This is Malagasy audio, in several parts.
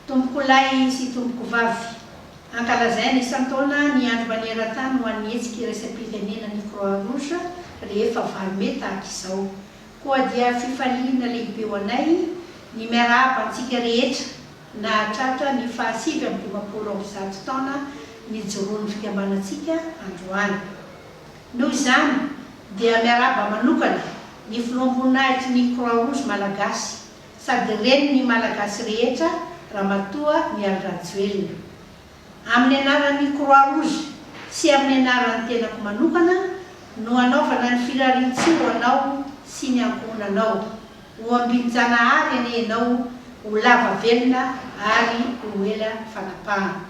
Tompokolahy sy Tompokovavy, Ankalazaina isan-taona ny Andro maneran-tany ho an'ny Hetsika Iraisam-pirenenan'ny Croix-Rouge rehefa valo mey tahaka izao. Koa dia fifaliana lehibe ho anay ny miarahaba antsika rehetra nahatratra ny fahasivy amby dimampolo amby zato taona nijoroan'ny Fikambanantsika androany. Noho izany dia miarahaba manokana ny Filoham-boninahitry ny Croix Rouge Malagasy sady Renin'ny Malagasy rehetra Ramatoa Mialy Rajoelina. Amin'ny anaran'ny Croix Rouge sy amin'ny anaran'ny tenako manokana no anaovana ny firarian-tsoa ho anao sy ny ankohonanao. Ho ambin-Janahary anie ianao ho lava velona ary ho ela fanapahana.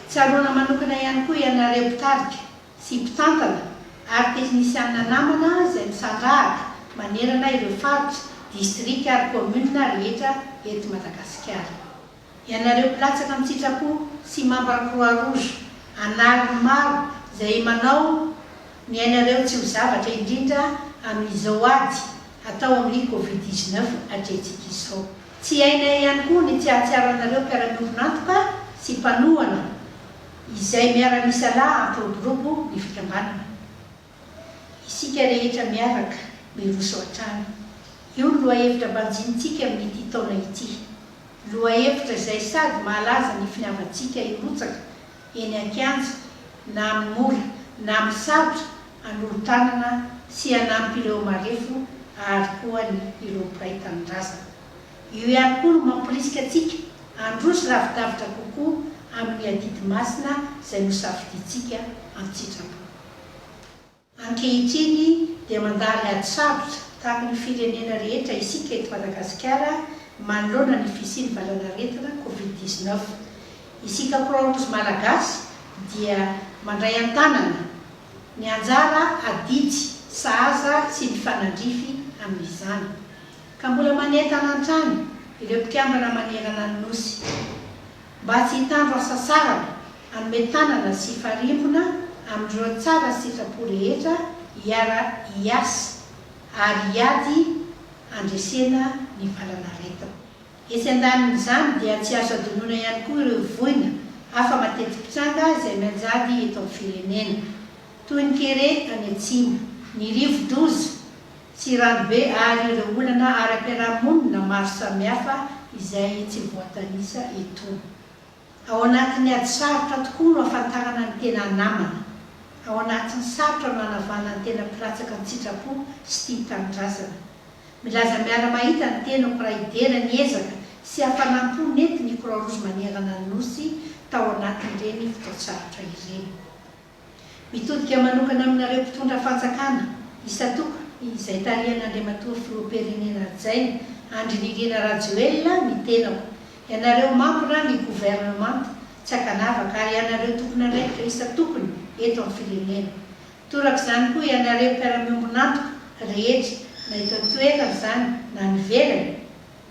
Tsaroana manokana ihany koa ianareo mpitarika sy mpitantana ary teknisianina namana izay misandrahaka manerana ireo faritra, distrika ary kaominina rehetra eto Madagasikara. Ianareo mpilatsaka an-tsitrapo sy mambra Croix Rouge anariny maro izay manao ny ainareo tsy ho zavatra indrindra amin'izao ady atao amin'ny Covid dix-neuf atrehintsika izao. Tsy hainay ihany koa ny tsy hahatsiaranareo mpiara-miombon'antoka sy mpanohana Izay miara-misalahy ampiroborobo ny fikambanana. Isika rehetra miaraka miroso hatrany. Io no lohahevitra banjinintsika amin'ity taona ity. Lohahevitra izay sady mahalaza ny finiavantsika hirotsaka eny an-kianja na amin'ny mora na amin'ny sarotra hanolo-tanana sy hanampy ireo marefo ary koa ny ireo mpiray tanindrazana. Io ihany koa no mamporisika antsika handroso lavidavitra kokoa amin'ny adidy masina izay nosafidiantsika an-tsitrapo. Ankehitriny dia mandalo ady sarotra tahaka ny firenena rehetra isika eto Madagasikara manoloana ny fisian'ny valanaretina Covid dix neuf. Isika Croix Rouge Malagasy dia mandray an-tanana ny anjara adidy sahaza sy mifanandrify amin'izany. ka mbola manentana hatrany ireo mpikambana manerana ny Nosy mba tsy hitandro asa saraka hanome tanana sy hifarimbona amin'ireo tsara sitrapo rehetra hiara-hiasa ary hiady handresena ny valan'aretina. Etsy andanin'izany dia tsy azo adinoina ihany koa ireo voina hafa mateti-pitranga izay mianjady eto amin'ny firenena, toy ny kere any atsimo, ny rivo-doza, Tsy rano be àry ireo olana ara-piarahamonina maro samihafa izay tsy voatanisa eto. Ao anatin'ny ady sarotra tokoa no ahafantarana ny tena namana. Ao anatin'ny sarotra no anavahana ny tena mpilatsaka an-tsitrapo sy tia tanindrazana. Milaza miara-mahita ny tenako raha hidera ny ezaka sy hafanam-po nentin'ny Croix Rouge manerana ny Nosy tao anatin'ireny fotoan-tsarotra ireny. Mitodika manokana aminareo mpitondra fanjakana isan-toko izay tarihan'Andriamatoa Filoha Perenena Hajaina Andry Nirina Rajoelina ny tenako, ianareo mambra ny governemanta tsy ankanavaka ary ianareo tompon'andraikitra isan-tokony eto amin'ny firenena. Torak'izany koa ianareo mpiara-miombon'antoka rehetra na eto an-toerana izany na any ivelany.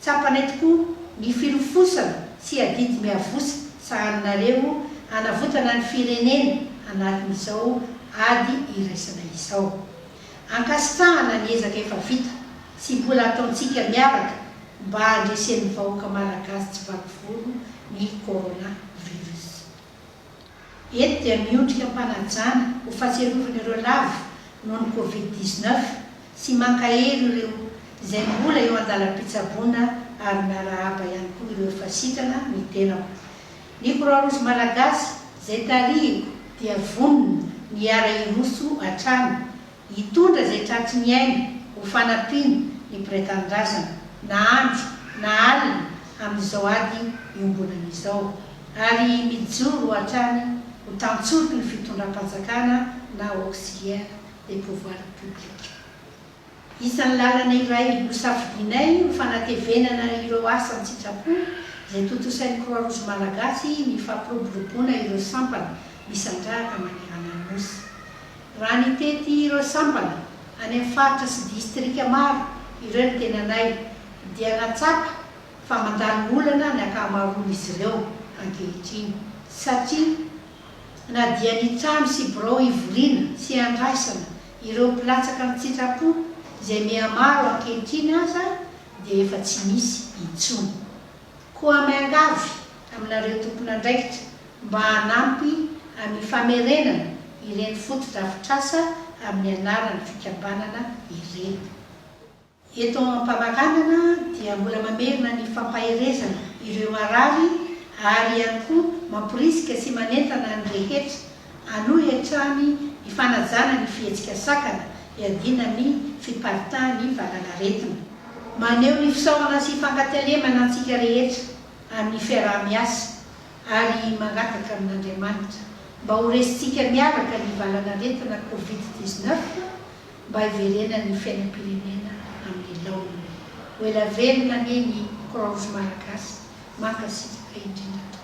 Tsapanay tokoa ny filofosana sy adidy miavosa sahaninareo hanavotana ny firenena anatin'izao ady iraisana izao. Ankasitrahana ny ezaka efa vita sy mbola ataontsika miaraka mba handresen'ny vahoaka Malagasy tsy vaky volo ny Corona Virus. Eto dia miondrika am-panajana ho fahatsiarovana ireo lavo noho ny Covid dix-neuf sy mankahery ireo izay mbola eo an-dalam-pitsaboana ary miarahaba ihany koa ireo efa sitrana ny tenako. Ny Croix Rouge Malagasy izay tarihiko dia vonona ny hiara-hiroso hatrany Hitondra izay tratry ny aina ho fanampiana ny mpiray tanindrazana, na andro na alina, amin'izao ady iombonana izao, ary mijoro hatrany ho tantsoroky ny fitondram-panjakana na auxiliaire des pouvoirs publics. Isan'ny lalana iray nosafidianay ho fanatevenana ireo asa an-tsitrapo izay tontosain'ny Croix Rouge Malagasy ny fampiroboroboana ireo sampana misandrahaka manerana ny Nosy. Raha nitety ireo sampana any amin'ny faritra sy distrika maro ireo ny tenanay dia nahatsapa fa mandany olana ny ankamaroan'izy ireo ankehitriny satria na dia ny trano sy birao hivoriana sy handraisana ireo mpilatsaka an-tsitrapo izay mihamaro ankehitriny aza dia efa tsy misy intsony. Koa miangavy aminareo tompon'andraikitra mba hanampy amin'ny famerenana ireny fotodrafitrasa amin'ny anaran'ny fikambanana ireny. Eto am-pamaranana dia mbola mamerina ny fampaherezana ireo marary ary ihany koa mamporisika sy manentana ny rehetra Hanohy hatrany ny fanajana ny fihetsika sakana hiadiana ny fiparitahan'ny valan'aretina. Maneho ny fisaorana sy fankatelemana antsika rehetra amin'ny fiaraha-miasa ary mangataka amin'Andriamanitra mba ho resintsika miaraka ny valan'aretina Covid dix-neuf mba hiverenan'ny fiainam-pirenena amin'ny laoniny. Ho ela velona anie ny Croix Rouge Malagasy. Mankasitraka indrindra tompoko.